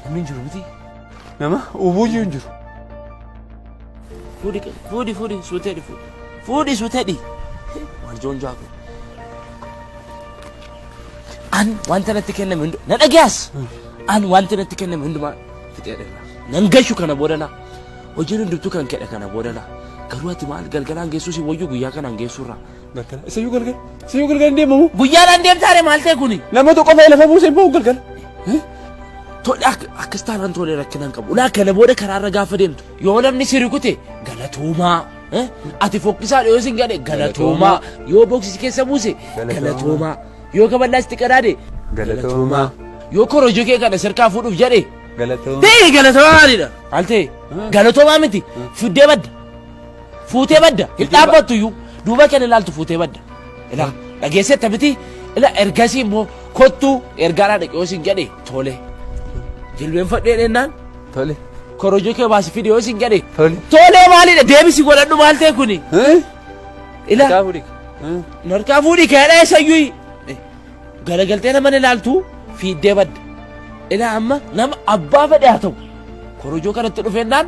Namni hin jiru miti. Nama ubuuyyuu hin jiru. Fuudhi qe- fuudhi fuudhi suutedhi fuudhi. Fuudhi suutedhi. Warjoon jaaku. An wanta natti kenname hundu na dhagaas. An wanta natti kenname hundumaa fixeedha. Nan gashu kana boodana. Hojiin hundumtuu kan kedha kana boodana. Garuu ati maal galgalaan geessuu si wayyu guyyaa kanaan geessuurra. Galgala. Isa yoo galgala. Isa yoo galgala hin deemamu. Guyyaadhaan deemtaare maal ta'e kuni? Nama tokko fa'ee lafa buusee bahu galgala. Tole akka akkas taanaan tole rakkinaan qabu. Ulaa kana booda karaarra gaafa deemtu yoo namni si rukute galatoomaa. eh? Ati fokkisaa dhiyoo sin gadhe galatoomaa. Yoo boksisi keessa buuse galatoomaa. Yoo kaballaa sitti qadaade Galatoomaa. yoo korojoo kee kana sirkaa fuudhuuf jedhe Galatoomaa. ta'e galatoomaa maalidha? Maal ta'e? Galatoomaa miti fiddee badda. Fuutee badda hin dhaabbattu iyyuu duuba kee ilaaltu fuutee badda. Ila dhageessetta miti ila ergasii immoo kottuu ergaadhaa dhaqee yoo siin jedhe tole. Jilbeenfadhee dhennaan Tole. korojoo kee baasi fide yoo siin jedhe Tole. tole maalidha deebisi godhadhu maal ta'e kuni. Eh? Ila Kaa fuudhi. Eh? narkaa fuudhi keedha eessayyuu garagaltee nama ilaaltu fiiddee badda. Ila amma nama abbaa fedhe haa ta'u korojoo kanatti dhufeennaan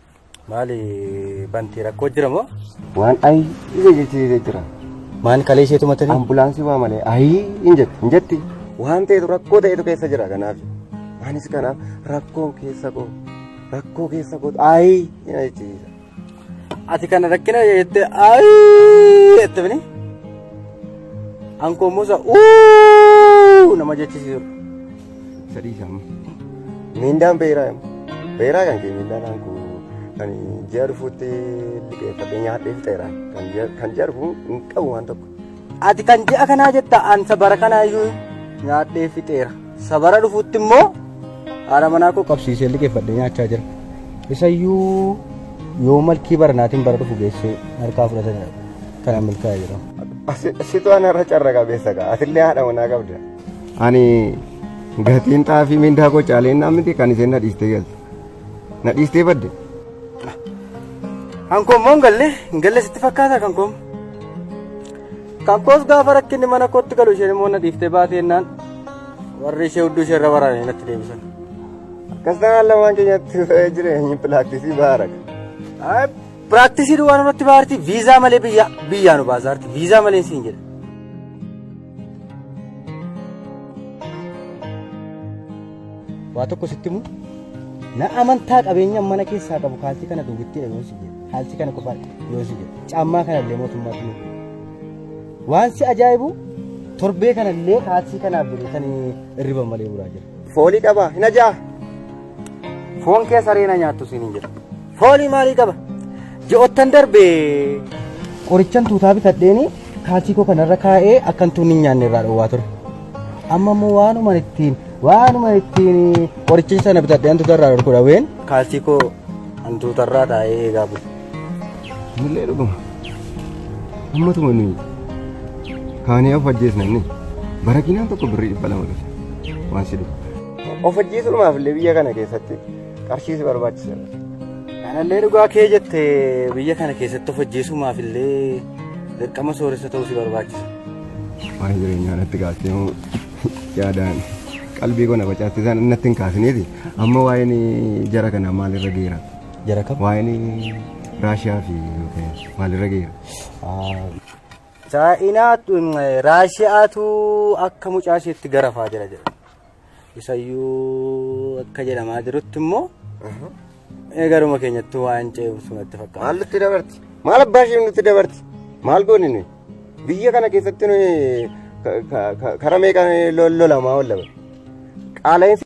Maali bantii rakkoo jira moo? Waan ayi ija jechisiisee jira. Maal kalee isheetu matanii? Ambulaansii waa malee ayi hin jetti hin jetti. Waan ta'etu rakkoo ta'etu keessa jira kanaaf. Anis kanaaf rakkoo keessa koo rakkoo keessa koo ayi ina jechisiisa. Ati kana rakkina jettee ayi jette bini. Ankoo musa uuu nama jechisiisu. Isa dhiisa amma. Miindaan beeraa immoo. Beeraa kan kee miindaan aanku kan ji'a dhufuutti liqeeffadhee nyaadhee fixeera. Kan ji'a- Kan ji'a dhufuu hin qabu waan tokko. Ati kan ji'a kanaa jetta an sabara kanaa iyyuu nyaadhee fixeera. Sabara dhufuutti immoo haadha manaa koo qabsiisee liqeeffadhee nyaachaa jira. Isayyuu yoo malkii baranaatiin bara dhufu geessee harkaa fudhatan kana milkaa'e jedhama. Situ anarra carra qabeessa kaa. Atillee haadha manaa qabda. Ani gatiin xaafii mindaa koo caalee innaa miti kan isheen na dhiistee galte. Na dhiistee badde. Kan koommoo hin galle hin galle sitti fakkaata kan koom. Kan koos gaafa rakkinni mana kootti galu isheen immoo na dhiiftee baatee innaan warri ishee hudduu ishee irra waraanee natti deebisan. Akkas ta'an lamaan keenyatti ta'ee jireenyi pilaaktisii baaraga. Ay, Piraaktisii duwwaa nurratti baarti viizaa malee biyya biyyaa nu baasaarti viizaa malee siin jedha. waa tokko sitti himu na amantaa qabeenyaan mana keessaa qabu kaalsii kana duwwittiidha yoon si jedhe kaalsii kana qofa yoon si jedhe caammaa kana illee mootummaatti nu waan si ajaa'ibu torbee kana illee kaalsii kanaaf jedhe kan irriba malee buraa jira. Foolii qabaa hin ajaa. Foon kee saree na nyaattu siin hin jira. Foolii maalii qaba? Ji'oottan darbe qorichan tuutaa bitadheeni kaalsii koo kanarra kaa'ee akkan tuunni hin nyaanne irraa dhowwaa ture. Amma immoo waanuma ittiin waanuma ittiin qorichan sana bitadhee hantuuta irraa dhorku dhaween kaalsii koo hantuuta irraa taa'ee eegaa bulu. Mullee dhuguma. Amma tumani kaanii of ajjeesna inni. Barakinaan tokko birrii dhibba lama dhufe. Waan si dhufu. Of ajjeesuudhumaaf illee biyya kana keessatti qarshii si barbaachisa. Kanallee dhugaa kee jette biyya kana keessatti of hojjeesumaaf illee dirqama sooressa ta'uu si barbaachisa. Waan jireenyaa natti kaastee moo yaadaan qalbii koo na facaatti isaan natti hin kaasineeti. Amma waa'een jara kanaa maalirra geera? Jara kam? Waa'een Raashiyaa fi Yuukireen maalirra geera? Chaayinaatu Raashiyaatu akka mucaa isheetti garafaa jira jedha. Isayyuu akka jedhamaa jirutti immoo eegaruma keenyatti waan ce'umsu natti fakkaata. Maal nutti dabarti? Maal abbaa ishee nutti dabarti? Maal goone nuyi? Biyya kana keessatti nuyi ka- ka- ka- karaa meeqaan lol- lolamaa oolla? Qaala'insi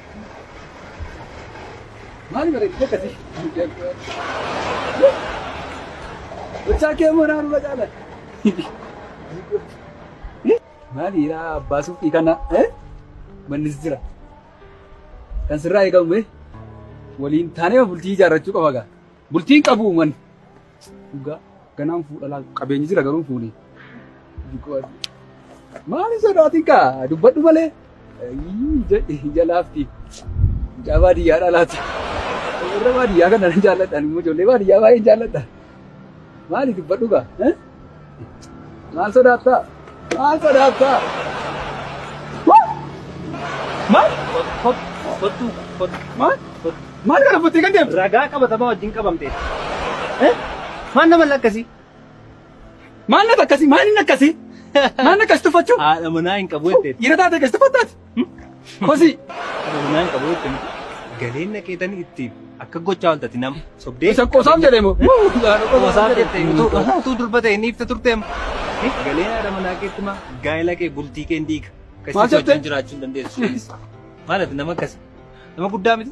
Mali bari kita kasih. Bocah ke mana anu baca lah. Mali ya basu ikana eh manis jira. Kan sirraa eegamu eh waliin taanee bultii ijaarrachuu qaba gaa. Bultiin qabu man. Dhugaa ganaan fuudha laal qabeenyi jira garuu fuuni. Maali sodaatiin kaa dubbadhu malee. Ija laafti. Ijaa baadiyyaadha laata. Warra baadiyyaa kana nan jaalladha. Immoo ijoollee baadiyyaa baay'een jaalladha. Maali dubbadhu kaa. Maal sodaattaa? Maal sodaattaa? Maal? Kottu, kottu. Maal? Maal kana buttee kan deemtu? Ragaa qabatamaa wajjin qabamtee. Eh? Maal nama lakkasii? Maal nata akkasii? Maal inni akkasii? Maal akkas tuffachuu? Haadha manaa hin qabu jettee. Dhiira taate akkas tuffattaati? Kosi. Naan qabu itti galeen naqeetanii itti akka gochaa waltati nama sobdee. Isa qosaaf jedhee moo? Qosaaf jettee utuu utuu durba ta'e ni ifta turteem. Galeen haadha manaa keetti maa gaa'ela kee bultii kee hin diiga. Maal Akkasitti jettee? wajjin jiraachuu hin dandeessu. Maal ati nama akkasi nama guddaa miti.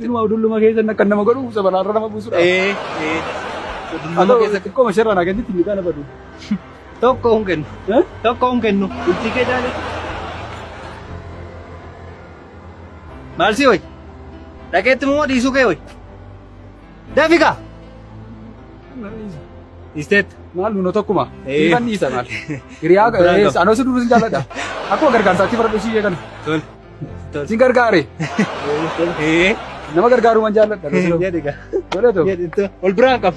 Inuma udulluma keessan akka nama godhu sabalaarra nama buusudha. Ee, ee. Udulluma Haa ta'u keessa xiqqoo masharraa naa kennitti inni kana badu. tokko hin kennu. Eh? Tokko hin kennu. Bultii kee jaale. Maal si hoy? Dhaqeetti moo dhiisuu kee hoy? Dafiqa! Isteet. Maal nuna tokkuma. Ee. Dhiifan dhiisa maal. Hiriyaa Biraan qaba. anoo si duruus hin jaalladha. Akkuma gargaarsaatti fara dhishii kana. Tole. Sin gargaare. Nama gargaaruman jaalladha. Jedhi gaa. Godhatu. Jedhi ol biraan qabu.